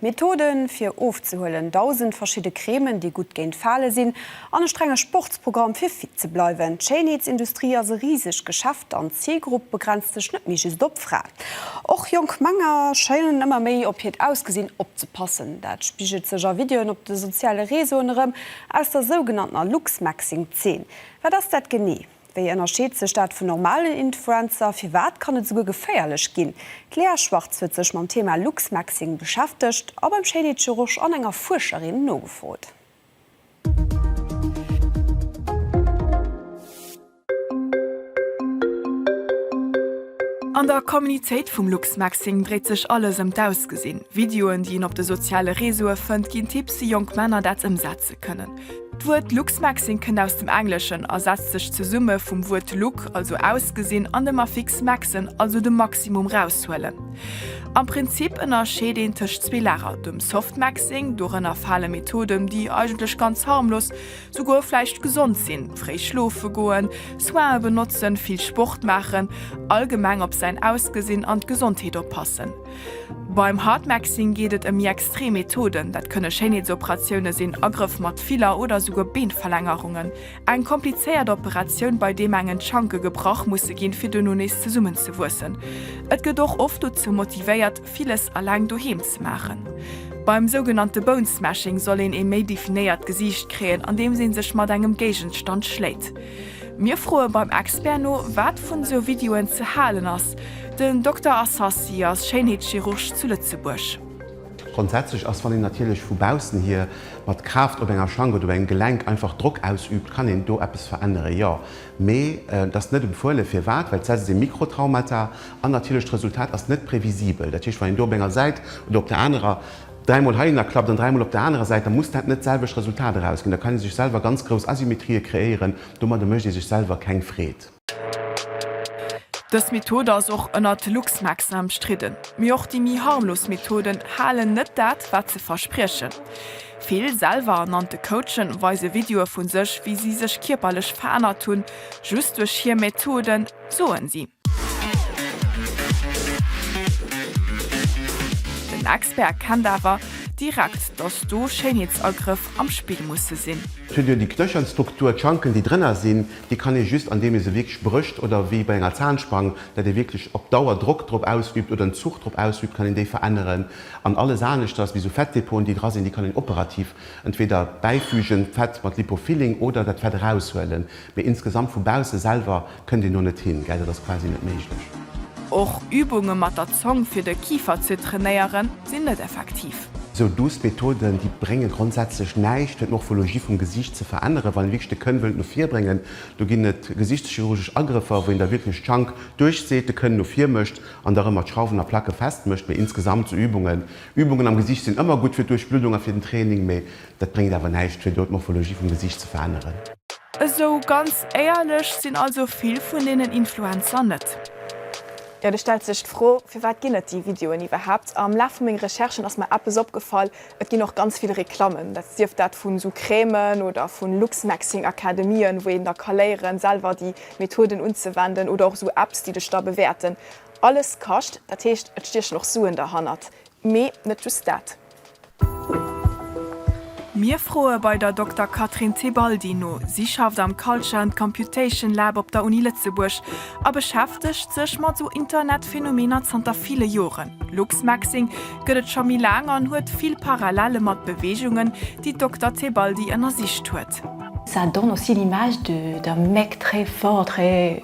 Methoden fir ofzehuelen, 1000 verschidde Cremen, déi gutt géint Fale sinn, an e strenge Sportsprogramm fir fit ze bleiwen. D'Schéinheetsindustrie ass e risegt Geschäft an d'Zilgrupp begrenzt sech net méi just op Fraen. Och jonk Männer schéinen ëmmer méi op hiert Ausgesinn opzepassen. Dat spigelt sech a Videoen op de soziale Reseauen erëm aus der sougenanntener Looksmaxing-Zeen. Wat ass dat genee? Wéi ënnerscheet sech dat vun normalen Influencer? Firwat kann et esouguer geféierlech ginn? D'Lea Schwartz huet sech mam Thema Luxmaxxing beschäftegt a beim Shady Church an enger Fuerscherin nogefrot. An der Communitéit vum Luxmaxxing dréit sech alles ëm d'Ausgesinn. Videoen, déi een op de soziale Reseaue fënnt, ginn Tipps, wéi jonk Männer dat ëmsetze kënnen. D'Wuert Luxmaxing kënnt aus dem Engleschen a setzt sech zesumme vum Wuert Look, also ausgesinn, an dem Affix maxen, also de Maximum raushuelen. Am Prinzip ënnerscheet een tëscht zwee Lager, dem Softmaxing, dorënner fale Methoden, déi eigentlech ganz harmlos, souguer vläicht gesond sinn, fréi schlofe goen, Soine benotzen, vill Sport maachen, allgemeng op säin Ausgesinn an d'Gesondheet oppassen, Beim Hartmaxing geet et ëm méi extrem Methoden, dat kënne Schéinheetsoperatioune sinn, Agrëff mat Filler oder esouguer Beenverlängerungen. Eng komplizéiert Operatioun, bei deem engen d'Schanke gebrach musse ginn, fir duerno nees zesummen ze wuessen. Et gëtt och oft dozou motivéiert, villes alleng doheem ze maachen. Beim sougenannte Bone Smashing soll een ee méi definéiert Gesiicht kréien, andeems ee sech mat engem Géigenstand schléit. Mir froe beim Expert no, wat vun esou Videoen ze halen ass. Den Dokter Assassi ass Schéinheetschirurg zu Lëtzebuerg. Grondsätzlech ass, wann een natierlech vu baussen hier mat Kraaft op enger Schang oder op engem Gelenk einfach Drock ausübt, kann een do eppes veränneren, jo. Mee et ass net empfuelen. Firwat? Well d'Säit ass ee Mikrotraumata an natierlech d'Resultat ass net previsibel. Dat heescht, wann een do op enger Säit oder op der anerer. Dräi mol heihinner klappt an dräi mol op der anerer Säit, da muss dat net d'selwecht Resultat erausginn. Da kann ee sech selwer ganz grouss Asymmetrie kreéieren. Domadder mécht ee sech selwer keng Freed. Dës Method ass och ënnert LuxMaxen ëmstridden. Mee och déi méi harmlos Methoden halen net dat, wat se verspriechen. Vill selwer ernannte Coachen weise Videoe vu sech, wéi si sech kierperlech verännert hunn, just duerch hir Methoden. soen si. Den Expert kennt awer direkt, dass do Schéinheetsagrëff am Spill musse sinn. Fir duerch déi Knöchelstruktur, d'Schanken déi drënner sinn, déi kann ee just andeem ee se wierklech brécht oder wéi bei enger Zahnspange, dat ee wierklech op Dauer Drock drop ausübt oder en Zuch drop ausübt, kann een déi veränneren. An alles aneschters wéi sou Fettdepoten déi dra sinn, déi kann een operativ entweder bäifügen, Fett mat Lipofilling oder dat Fett eraushuelen. Mee insgesamt vu bausse selwer kënnt een do net hin, gell? Dat ass quasi net méiglech. Och Übunge mat der Zong fir de Kifer ze trainéieren, sinn net effektiv. Esou duuss Methoden, déi brénge grondsätzlech näischt fir d'Morphologie vum Gesiicht ze veränneren. Wann een wierklech de Kënn wëllt no vir bréngen, do ginn et gesiichtschirurgesch Agrëffer, wou een da wierklech d'Schank duerchzeet, de Kënn no vir mécht an da rëm mat Schrauwen a Placke fest mécht. Mee insgesamt sou Übungen, Übungen am Gesiicht sinn ëmmer gutt fir d'Duerchbluddung a fir den Training, mee Dat bréngt awer näischt fir do d'Morphologie vum Gesiicht ze veränneren. Esou ganz éierlech sinn also vill vun deenen Influencer net. Jo, do stellt sech d'Fro, firwat ginn et déi Videoen iwwerhaapt? Am Laf vu menge Recherchen ass mer eppes opgefall, Et ginn och ganz vill Reklammen, dat sief dat vun esou Crèmen oder vun Luxmaxing-Akademien, wou een da ka léieren, selwer déi Methoden unzewenden, oder och esou Apps, déi dech da bewäerten. Alles kascht, dat heescht, et stiechen och Suen derhannert. Mee net just dat. Mir froe bei der Dokter Catherine Tebaldi no. Si schafft am Culture and Computation Lab op der Uni Lëtzebuerg a beschäftegt sech mat sou Internetphänomener zanter ville Joren. Luxmaxxing gëtt et scho méi laang an huet vill Parallelle mat Beweegungen, déi d'Dokter Tebaldi ënnersicht huet. Ça donne aussi l'image d'un mec très fort, très.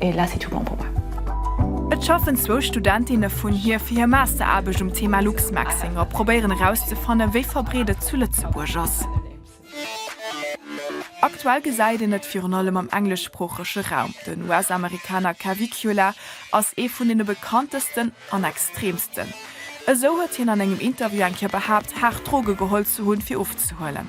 Et là c'est tout bon pour moi. Et schaffen zwou Studentinne vun hir fir hir Masteraarbecht um Thema Luxmaxxing a probéieren erauszefannen, wéi verbreet et zu Lëtzebuerg ass. Aktuell gesäit een et virun allem am engleschsproochege Raum. Den US-Amerikaner Cavicula ass ee vun deene bekanntesten an extreemsten. Esou huet hien an engem Interview eng Kéier behaapt, haart Droge geholl ze hunn, fir ofzehuelen.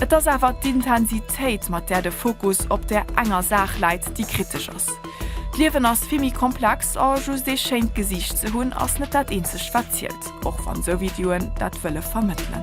Et ass awer d'Intensitéit, mat där de Fokus op där enger Saach läit, déi kritesch ass. D'Liewen ass vill méi komplex a just ee schéint Gesiicht ze hunn, ass net dat eenzegt, wat zielt, och wann sou Videoen dat wëlle vermëttelen.